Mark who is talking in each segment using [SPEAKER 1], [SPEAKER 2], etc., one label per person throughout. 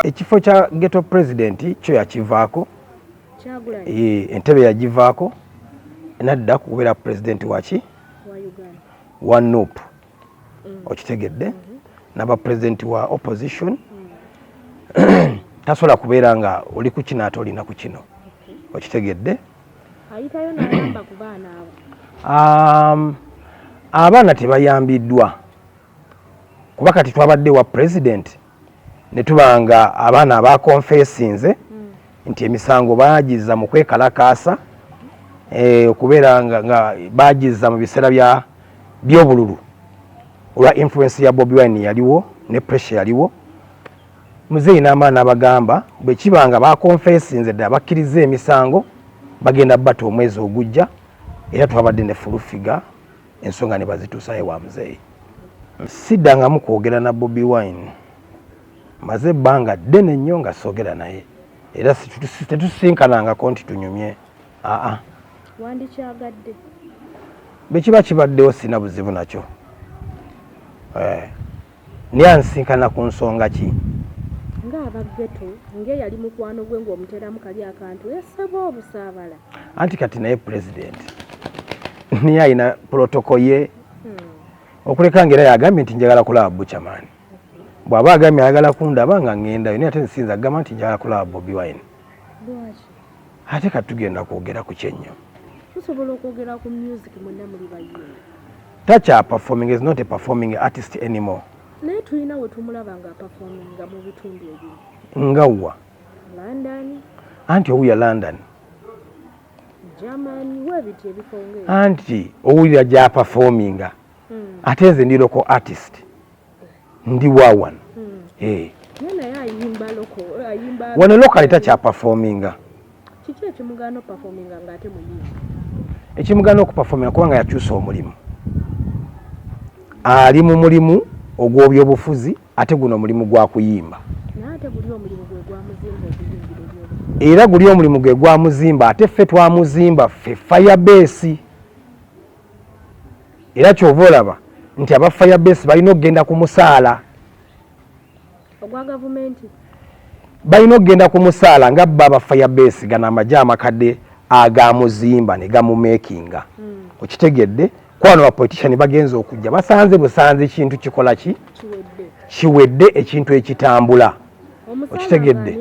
[SPEAKER 1] ekifo kya geto president kyo yakivaako eh, entebe yagivaako nadda kubeera president waki wa nup mm. okitegedde mm-hmm. naba president wa opposition mm. tasobola kubeera nga oli ku kino ate olina ku kino okitegedde ayitayo
[SPEAKER 2] nayamba ku baana abo um,
[SPEAKER 1] abaana tebayambiddwa kuba kati twabadde wa president ne tuba nga abaana abakonfesinze hmm. nti emisango bagiza mu kwekalakaasa eh, okubeera nga bagiza mu biseera by'obululu olwa influence ya bobi wine yaliwo ne pressure yaliwo Muzeeyi n'amala n'abagamba bwe kiba nga baakonfeesinze ddala bakkirizza emisango bagenda bata omwezi ogujja era twabadde ne fulufiga ensonga ne bazituusayo ewa muzeeyi. Siddangamu kwogera na Bobi Wine, maze ebbanga ddene nnyo nga soogera naye era tetusisinkanangako nti tunyumye aa. Wandikyagadde?
[SPEAKER 2] Bwe
[SPEAKER 1] kiba kibaddewo sirina buzibu nakyo. Eh. Naye ansisinkana ku nsonga ki? Ng'aba
[SPEAKER 2] Ghetto, ng'eyali mukwano gwe ng'omuteeramu kali akantu yasaba obusaabala. Anti kati naye
[SPEAKER 1] Pulezidenti naye alina pulotoko ye hmm. okuleka ng'era yagambye nti njagala kulaba Buchaman. Bw'aba agambye ayagala kundaba nga ng'endayo naye ate nsinza kugamba nti njagala kulaba Bobi Wine. ate kati tugenda kwogera ku kyenyo tusobola okwogera
[SPEAKER 2] ku music mwenna muli bayimbi takya
[SPEAKER 1] performing is not a performing artist anymore naye tulina we
[SPEAKER 2] tumulaba nga performinga mu bitundu ebiri nga wa
[SPEAKER 1] london
[SPEAKER 2] anti owuya
[SPEAKER 1] london germany
[SPEAKER 2] webiti ebikonge anti owulira
[SPEAKER 1] gya performinga hmm. ate nze ndiroko artist ndi wa wano hmm. eh. wano lokale takyapafominga kiki
[SPEAKER 2] ekimugaana okupafominga nga ate muyimbi ekimugaana
[SPEAKER 1] okupafominga kubanga yakyusa omulimu ali mu mulimu ogw'obyobufuzi ate guno omulimu gwa kuyimba era guli omulimu gwe gwamuzimba ate ffe twamuzimba ffe fayabesi era kyova olaba nti aba fire base balina okugenda ku musaala
[SPEAKER 2] ogwa gavumenti balina
[SPEAKER 1] okugenda ku musaala nga bba aba fire base gano amagye amakadde agamuzimba ne gamumakinga hmm. okitegedde kwano bapolitician bagenza okujja basanze busanze ekintu kikola ki kiwedde ekintu ekitambula okitegedde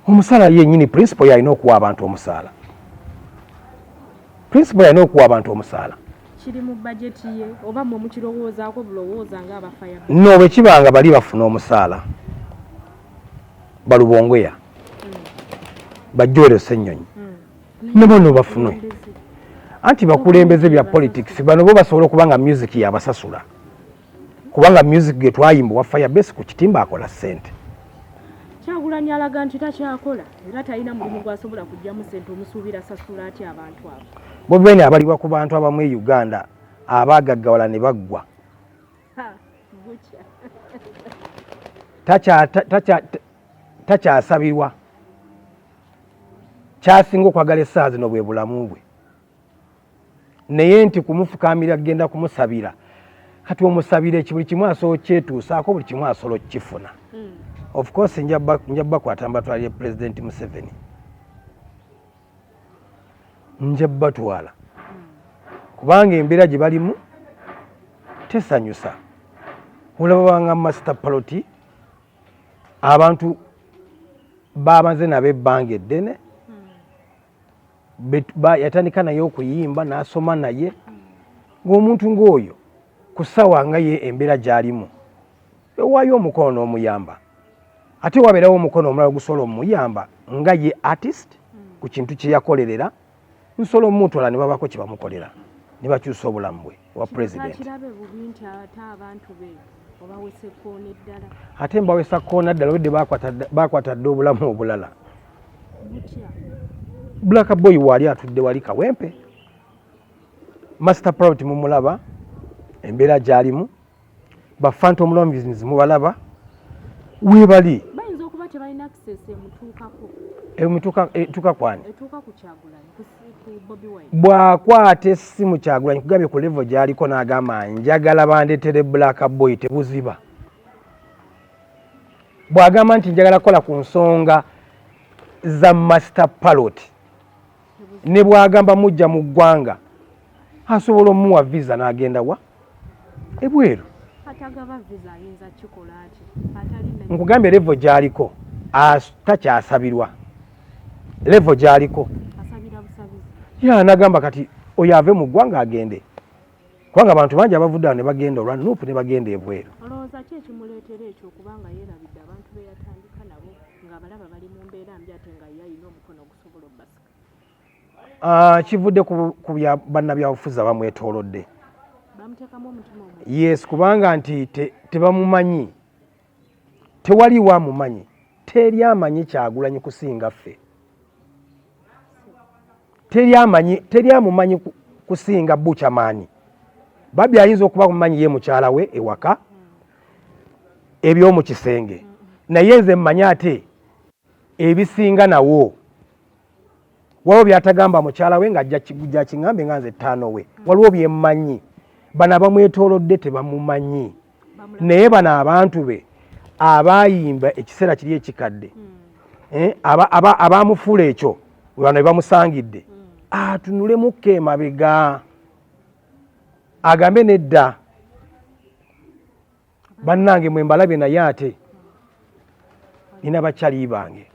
[SPEAKER 1] omusaala yenyini principle yalina okuwa abantu omusaala principle yalina okuwa abantu omusaala
[SPEAKER 2] no bwekiba nga
[SPEAKER 1] bali bafuna omusaala balubongoya hmm. bajowere senyonyi hmm. nebono bafunwe anti bakulembeze bya politics bano bo basobola okuba nga music yabasasula kubanga music ge twayimba wa fire base ku kitimba akola sente
[SPEAKER 2] kyagulanyi alaga nti takyakola era talina mulimu gwasobola kujjamu sente omusuubira sasula ati abantu abo bobeni abalibwa
[SPEAKER 1] ku bantu abamu e uganda abagaggawala ne baggwa takyasabirwa kyasinga okwagala essaazi no bwe bulamu bwe naye nti kumufukamira kugenda kumusabira kati omusabire ki buli kimu asobola okukyetuusaako buli kimu asobola okukifuna hmm. of course nja bakwata mbatwalire pulezidenti museveni nja batwala hmm. kubanga embeera gye balimu tesanyusa olaba banga master paloti abantu babanze nabo ebbanga eddene yatandika naye okuyimba n'asoma naye ng'omuntu ng'oyo ku ssaawa nga ye embeera gy'alimu ewaayo omukono n'omuyamba ate wabeerawo omukono omulala ogusobola omuyamba nga ye artist ku kintu kye yakolerera nsobola omumutwala ne babaako kye bamukolera ne bakyusa obulamu bwe wa president ate mbawesa koona ddala obedde bakwata dde obulamu obulala black boy waali atudde wali kawempe master private mumulaba embeera gyalimu ba phantom loans mubalaba webali bayinza okuba
[SPEAKER 2] tebalina access emutuukako emutuuka
[SPEAKER 1] etuuka kwani etuuka ku kyagulanyi
[SPEAKER 2] ku bobi wine bwakwata
[SPEAKER 1] essimu kyagulanyi kugambye ku level gyaliko n'agamba njagala bandetere black boy tebuziba bw'agamba nti njagala kukola ku nsonga za master palot ne bwagamba mujja mu ggwanga asobola omuwa visa n'agenda wa ebweru
[SPEAKER 2] nkugambye levo
[SPEAKER 1] gyaliko takyasabirwa levo gyaliko
[SPEAKER 2] ya nagamba kati
[SPEAKER 1] oyo ave mu ggwanga agende kubanga abantu bangi abavudde awo ne bagenda olwa nupu ne bagenda ebweru
[SPEAKER 2] Ah, kivudde
[SPEAKER 1] ku bya bannabyabufuzi abamwetoolodde
[SPEAKER 2] yes kubanga nti
[SPEAKER 1] tebamumanyi tewaliwo amumanyi teri amanyi kyagulanyi kusinga ffe teri amanyi teri amumanyi kusinga buchamani babi ayinza okuba mumanyi ye mukyala we ewaka eby'omu kisenge naye nze mmanyi ate ebisinga nawo waliwo byatagamba mukyala we nga jakingambe nga nze ttaano we waliwo byemmanyi bano abamwetolodde tebamumanyi naye bano abantu be abayimba ekiseera kiri ekikadde hmm. eh, abamufuula ekyo bano ebamusangidde hmm. atunulemukka emabega agambe nedda bannange mwe mbalabye naye ate nina bakyali bange